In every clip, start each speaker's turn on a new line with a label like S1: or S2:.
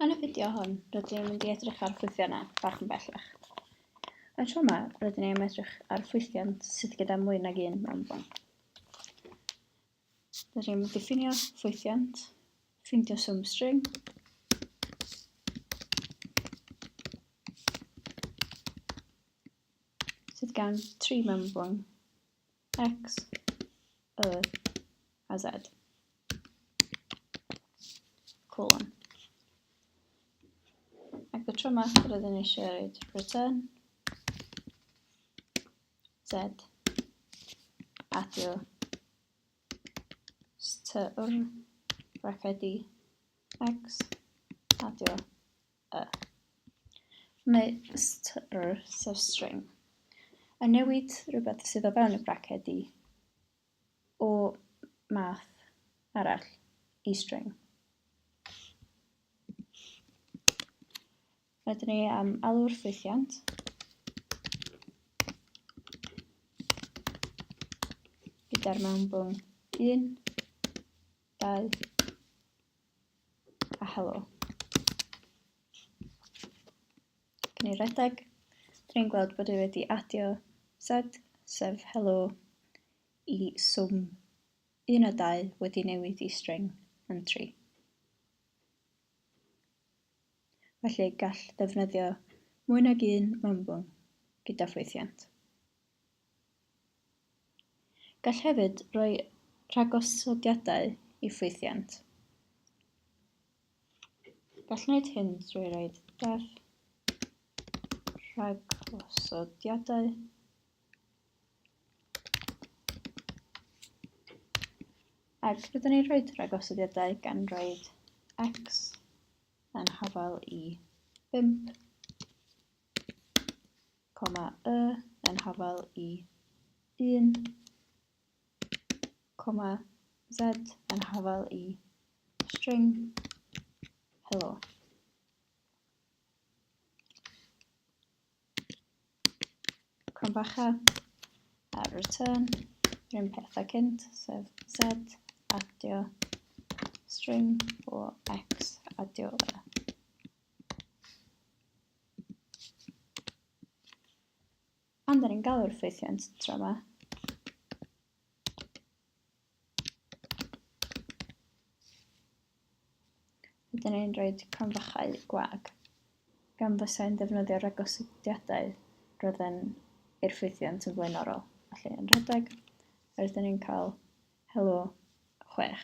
S1: Yn y fideo hwn, rydyn ni'n mynd i edrych ar ffwythiannau bach yn bellach. Yn y tro yma, rydyn ni'n edrych ar ffwythiant sydd gyda mwy nag un mewnfon. Rydyn ni'n mynd i ffinio ffwythiant, ffindio swm string, sydd gan tri mewnfon X, Y a Z. Colon. Ac y tro yma, rydyn ni eisiau roed return Z adio styr bracedi X adio y. Meistr sefstring. A newid rhywbeth sydd o fewn y braced i o math arall i string. Rydyn ni am alw'r ffwythiant. Gyda'r mewnbwn 1, 2, A helo. Cyn i redeg, dyn ni'n gweld bod e wedi adio set, sef helo, i swm 1 a 2 wedi newid i string yn 3. Felly gall ddefnyddio mwy nag un mewnbwn gyda ffwythiant. Gall hefyd roi rhagosodiadau i ffwythiant. Gall wneud hyn drwy roi deddf rhagosodiadau ac rydyn ni'n rhoi rhagosodiadau gan roi x yn hafal i 5 coma y yn hafal i 1, coma z yn hafal i string hello. Crombacha a return yr un peth a cynt, sef z adio string o x adio y. Ond er yn galw'r ffeithiant tro ma. Ydyn ni'n rhoi cronfachau gwag. Gan bwysau'n defnyddio ragosodiadau roedden i'r ffeithiant yn flaenorol, felly yn rhedeg, rydyn ni'n cael helo chwech.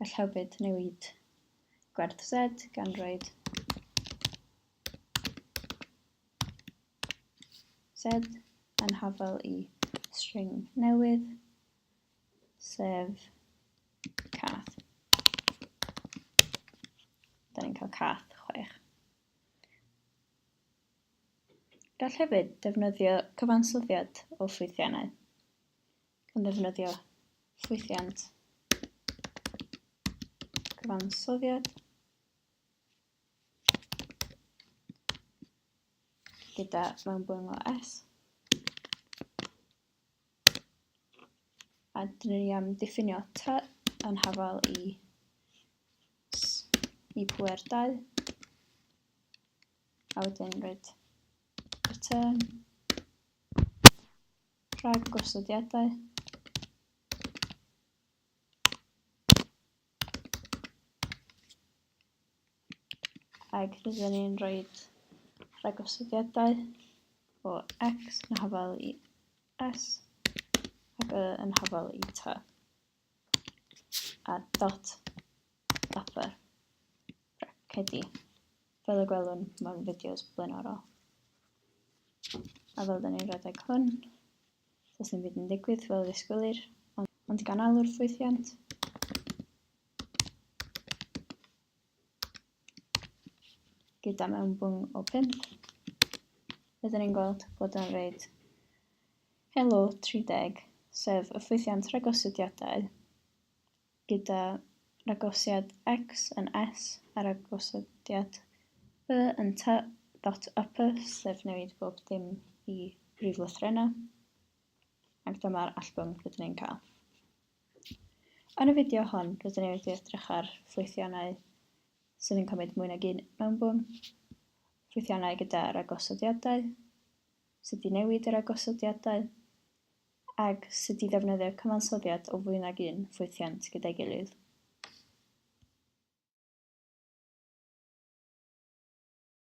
S1: Gall hefyd newid gwerth Z gan roed Z yn hafel i string newydd, sef cath. Da ni'n cael cath chwech. Gall hefyd defnyddio cyfansoddiad o ffwythiannau. yn ddefnyddio ffwythiant cyfansoddiad gyda mewnbwn o S. A dyn ni am diffinio T yn hafal i S i pwer 2. A wedyn roed return. Rhag gosodiadau. Ac rydyn ni'n rhoi rhag gosodiadau o X yn hafal i S ac Y yn hafal i T. a dot upper bracedi fel y gwelwn mewn fideos blaenorol. A fel dyn ni'n rhedeg hwn, does dim byd yn digwydd fel ddisgwylir, ond gan alw'r ffwythiant, gyda mewnbwng o 5. Rydyn ni'n gweld bod o'n reid Helo 30, sef y ffwythiant ragosodiadau, gyda ragosiad X yn S a ragosodiad Y yn T dot upper, sef newid bob dim i brif lythrennau. Ac dyma'r allbwn rydyn ni'n cael. Yn y fideo hon, rydyn ni wedi edrych ar ffwythiannau sydd yn cymryd mwy nag un mewnbwn, ffwythiannau gyda ragosodiadau, sut i newid y ragosodiadau, ac sut i ddefnyddio cyfansoddiad o fwy nag un ffwythiant gyda'i gilydd.